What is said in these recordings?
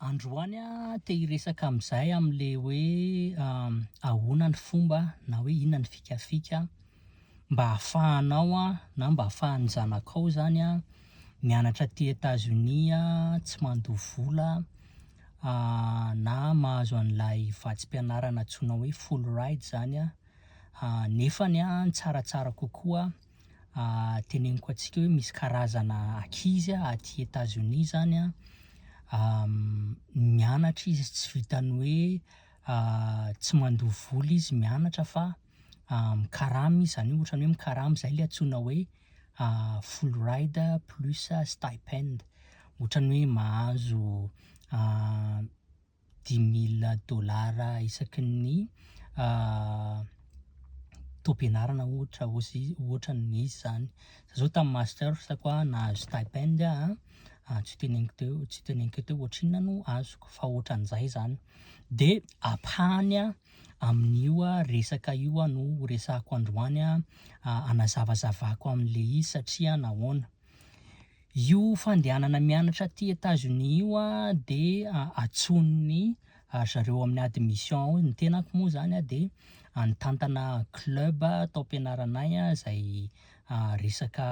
Androany aho te hiresaka amin'izay amin'ilay hoe ahoana ny fomba na hoe inona ny fikafika mba hahafahanao na mba hahafahan'ny zanakao izany an, mianatra aty Etazonia, tsy mandoa vola, na mahazo an'ilay vatsim-pianarana antsoina hoe full ride izany an, nefany an, tsaratsara kokoa. teneniko antsika hoe misy karazana ankizy aty Etats Unis zany an, mianatra izy tsy vitan'ny hoe tsy mandoa vola izy mianatra fa mikarama izy, zany hoe ohatran'ny hoe mikarama, izay ilay antsoina hoe full ride plus stipend, ohatran'ny hoe mahazo dimy mille dollars isaky ny taom-pianarana ohatra ohatran'ny izy zany, za zao tamin'ny masters ko ah nahazo stipend ah tsy ho teneniko teo tsy ho teneniko eto hoe ohatrinona no azoko fa ohatran'izay zany, de ampahany ah amin'io ah resaka io ah no horesahako androany ah hanazavazavako an'le izy satria nahoana, Io fandehanana mianatra aty Etazonia io dia atsoin'ny ry zareo amin'ny admission ao, ny tenako moa izany dia nitantana club tao am-pianaranay izay resaka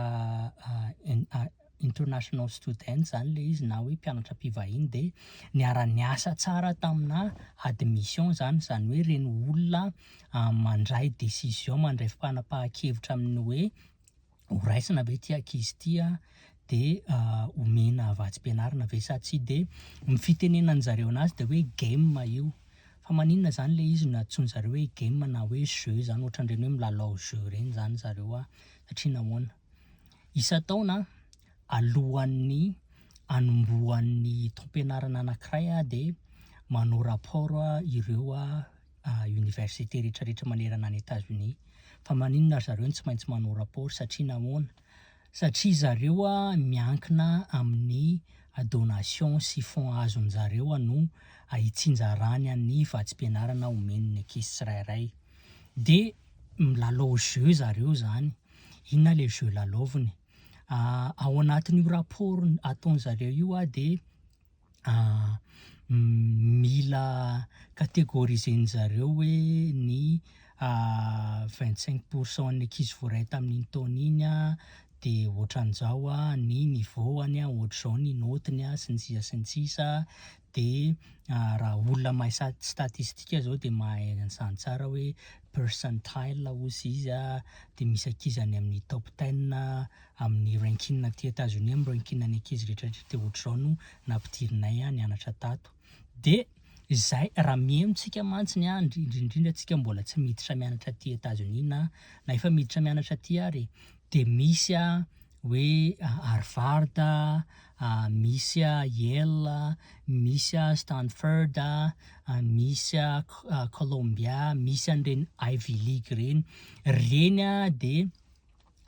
international students izany ilay izy na hoe mpianatra mpivahiny dia niara-niasa tsara taminà admission izany, izany hoe ireny olona mandray décision, mandray fanapahan-kevitra amin'ny hoe ho raisina ve ity ankizy ity a, dia omena vatsim-pianarana ve sa tsia, dia ny fitenenan'ny zareo anazy dia hoe game io, fa maninona izany ilay izy no antsoin'ny zareo hoe game na hoe jeu izany, ohatran'ireny hoe milalao jeu ireny izany zareo a, satria nahoana? isan-taona alohan'ny hanombohan'ny taom-pianarana anankiray dia manao rapport ireo. université rehetra rehetra manerana any Etats Unis fa maninona ry zareo no tsy maintsy manao rapport satria nahoana? satria zareo a miankina amin'ny donation sy fonds azony zareo a no hitsinjarany an'ny vatsim-pianarana omeny ny ankizy tsirairay de milalao jeu zareo zany inona le jeu lalaoviny? ao anatin'io rapport ataony zareo io a de mila categoriser-ny zareo hoe ny vingt cinq pour cent an'ny ankizy voaray tamin'iny taona iny de ohatran'izao an, ny niveau-any an, ohatr'izao ny naute-ny an, sy ny sisa sy ny sisa, de raha olona mahay sat- statistika zao de mahay an'izany tsara hoe percentile hozy izy an, de misy ankizy any amin'ny top ten amin'ny ranking aty Etazonia, amin'ny ranking ny ankizy rehetra rehetra dia ohatr'izao no nampidirinay nianatra tato. Dia izay, raha mihaino tsika mantsy ny ahy, indrindra indrindra tsika mbola tsy miditra mianatra aty Etazonia na na efa miditra mianatra aty ary e, dia misy hoe Harvard, misy Yale, misy Stanford, misy Columbia, misy an'ireny Ivy League ireny. Ireny dia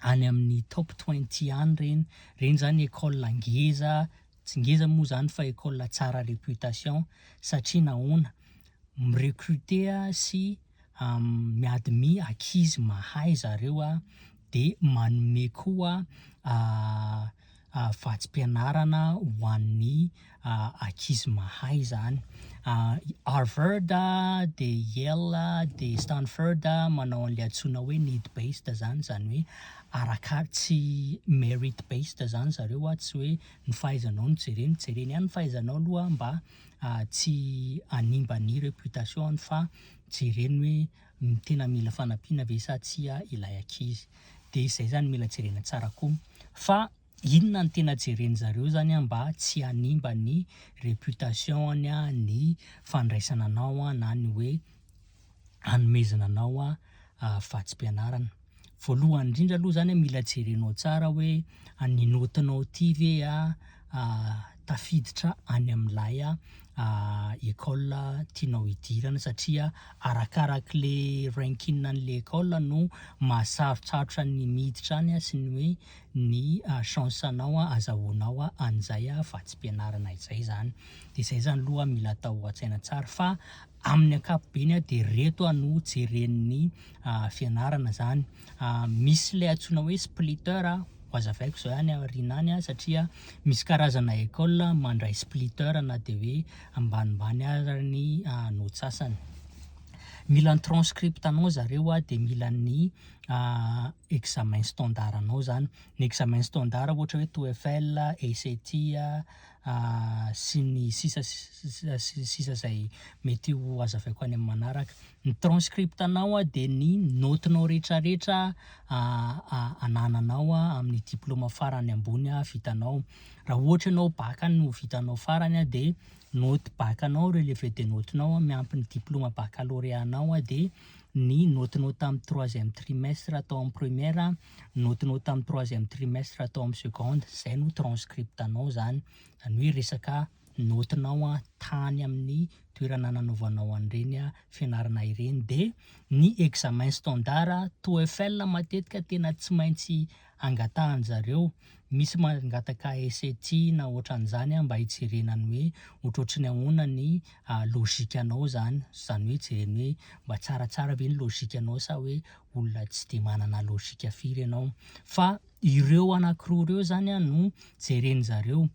any amin'ny top twenty any ireny, ireny izany école ngeza, tsy ngeza moa izany fa école tsara réputation, satria nahoana? mi-recruter sy mi-admis ankizy mahay zareo dia manome koa vatsim-pianarana ho an'ny ankizy mahay izany. Harvard dia Yale dia Stanford manao an'ilay antsoina hoe need based izany, izany hoe araka tsy merit based izany zareo, tsy hoe ny fahaizanao no jereny, jereny ihany ny fahaizanao aloha mba tsy hanimba ny reputation-ny fa jereny hoe. ny tena mila fanampiana ve sa tsia ilay ankizy dia izay zany mila jerena tsara koa fa inona ny tena jeren zareo zany an mba tsy hanimba ny reputation any an ny fandraisana anao an na ny hoe hanomezana anao an vatsipianarana voalohany indrindra aloha zany mila jerenao tsara hoe ny naotinao ity ve tafiditra any amin'ilay école tianao hidirana satria arakaraky le ranking an'le école no maha sarotsarotra ny miditra any sy ny hoe ny chance anao azahoanao an'izay vatsim-pianarana izay zany, de zay zany aloha mila atao an-tsaina tsara fa Amin'ny ankapobeny dia ireto no jeren'ny fianarana izany. Misy ilay antsoina hoe splitter, hohazavaiko izao ihany aoriana any satria misy karazana école mandray splitter na dia hoe ambanimbany aza ny notsasany. Mila ny transcript anao zareo dia mila ny examen standard anao izany. Ny examen standard ohatra hoe TOEFL, ACT. sy ny sisa sy ny sisa izay mety ho hazavaiko any amin'ny manaraka. Ny transcript-nao dia ny naotinao rehetrarehetra anananao amin'ny diplaoma farany ambony vitanao. Raha ohatra ianao bacc no vitanao farany dia naoty bacc-nao, relevé de naotinao miampy ny diplaoma baccalauréat-nao dia ny naotinao tamin'ny troisième trimestre tao amin'ny première notinao tamin'ny troisième trimestre tao amin'ny seconde, izay no transcript-nao izany, izany hoe resaka notinao tany amin'ny toerana nanaovanao an'ireny fianarana ireny, dia ny examen standard TOEFL matetika tena tsy maintsy angatahan'ny zareo, Misy mangataka essai tiana otran'izany an mba hijerena ny hoe otrotry ny ahoana ny logique anao zany, zany hoe jereny hoe mba tsaratsara ve ny logique anao sa hoe olona tsy de manana logique firy ianao. Fa ireo anakiroa ireo zany an no jereny zareo.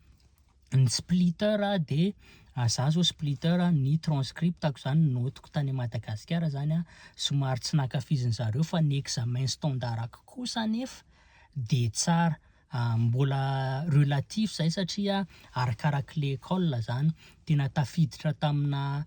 Ny splitter de za zao splitter ny transcript-ko zany note-ko tany Madagasikara zany an somary tsy nankafizin'zareo fa ny examen standard-ko kosa anefa dia tsara mbola relatif izay satria arakaraky le école izany, tena tafiditra tamina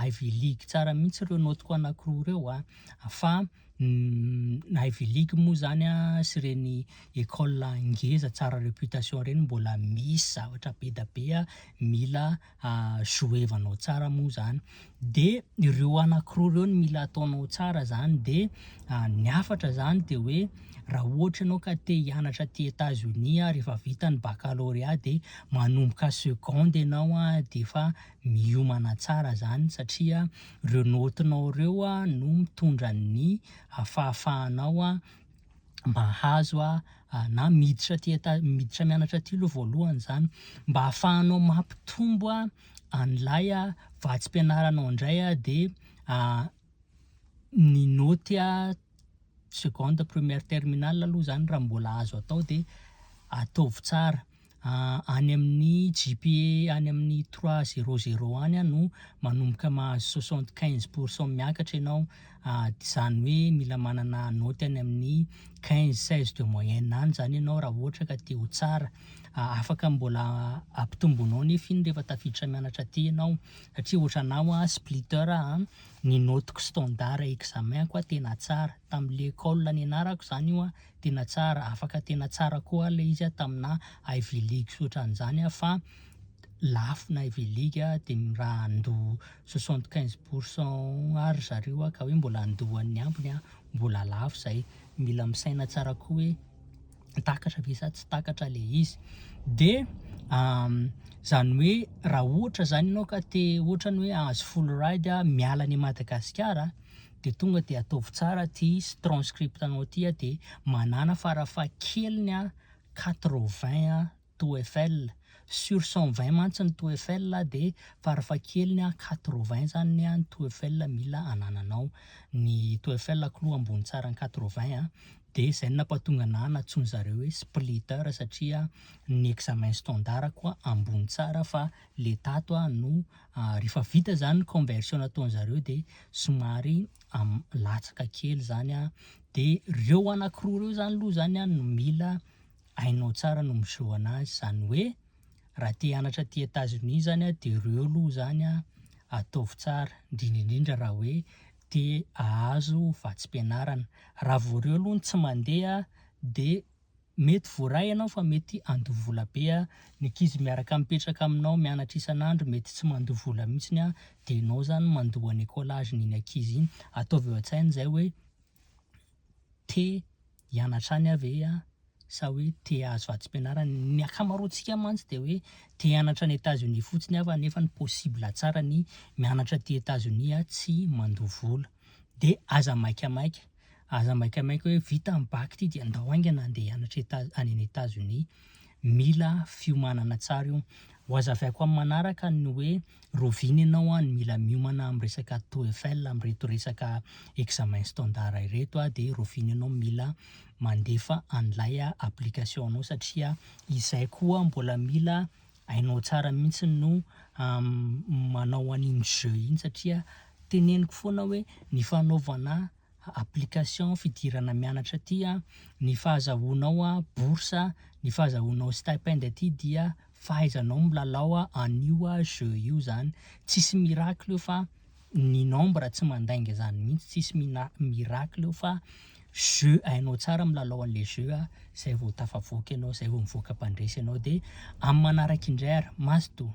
Ivy League tsara mihitsy ireo notiko anankiroa ireo an, fa ny Ivy League moa izany an sy ireny école ngeza tsara réputation ireny mbola misy zavatra be dia be mila jouevanao tsara moa zany de ireo anakiroa ireo no mila ataonao tsara zany de ny hafatra zany de hoe raha ohatra ianao ka te hianatra aty Etats Unis ary efa vita ny baccalauréat de manomboka seconde ianao an de efa miomana tsara zany satria ireo naotinao ireo no mitondra ny fahafahanao mahazo na miditra aty miditra mianatra aty aloha voalohany zany mba afahanao mampitombo an'ilay vatsim-pianaranao indray de ny naoty seconde, première, terminale aloha zany raha mbola azo atao de ataovy tsara. any amin'ny GPA any amin'ny trois zero zero any aho no manomboka mahazo soixante quinze pour cent miakatra ianao izany hoe mila manana naoty any amin'ny quinze seize de moyenne any izany ianao raha ohatra ka te ho tsara, afaka mbola ampitomboinao nefa iny rehefa tafiditra mianatra aty ianao satria ohatranà hoa splitter aho an, ny naotiko standard examen-ko hoa tena tsara, tamin'ilay école nianarako izany io an. tena tsara afaka tena tsara koa le izy tamina Ivy League sy otran'izany fa lafo ny Ivy League de raha handoa soixante quinze pour cent Ar ry zareo ka hoe mbola handoa an'ny ambiny mbola lafo izay mila misaina tsara koa hoe takatra ve sa tsy takatra le izy de zany hoe raha ohatra zany ianao ka te ohatrany hoe ahazo full ride miala any Madagasikara de tonga de ataovy tsara ty strnscript nao ty a de manana fara faha keliny a quatre vingt a toefl sur cent vingt mantsy ny toefl a de fara faha keliny a quatre vingt zany ny an toefl mila anananao ny toefl k'loha ambony tsara ny quatre vingt a de zay no napatonga ana natsoiny zareo hoe splitter satria ny examen standard koa ambony tsara fa le tato a no rehefa vita zany ny conversion nataony zareo de somary latsaka kely zany a de reo anakiroa reo zany loha zany a no mila hainao tsara no miseho anazy zany hoe raha te hanatra aty Etats Unis zany a de reo loha zany a ataovy tsara indrindra indrindra raha hoe te ahazo vatsim-pianarana raha vao reo loha no tsy mandeha de Mety voaray ianao fa mety handoa vola be a! Ny ankizy miaraka mipetraka aminao mianatra isan'andro mety tsy mandoa vola mihitsiny a! Dia ianao izany mandoa ny écolage n'iny ankizy iny! Ataovy eo an-tsaina izay hoe te hianatra any aho ve a? Sa hoe te hahazo vatsim-pianarana? Ny ankamaroantsika mantsy dia hoe te hianatra any États-Unis fotsiny aho fa nefa ny possible tsara ny mianatra aty États-Unis a tsy mandoa vola. dia aza maikamaika, aza maikamaika hoe vita ny bac ity dia andao haingana andeha hianatra Etazonia, any any Etazonia, mila fiomanana tsara io, ho hazavaiko amin'ny manaraka ny hoe roviana ianao an, mila miomana amin'ny resaka TOEFL amin'ireto resaka examen standard ireto an, dia roviana ianao mila mandefa an'ilay application-nao satria izay koa mbola mila Hainao tsara mihitsy no manao an'iny jeu iny satria teneniko foana hoe ny fanaovana application fidirana mianatra aty, ny fahazahoanao bourse, ny fahazahoanao stipend aty dia fahaizanao milalao an'io jeu io izany. Tsisy miracle io fa. ny nombre tsy mandainga zany mihitsy tsisy mina miracle eo fa jeu hainao tsara milalao an'le jeu a zay vao tafavoaka ianao zay vao mivoaka mpandresy ianao de amin'ny manaraka indray ary mazotoa.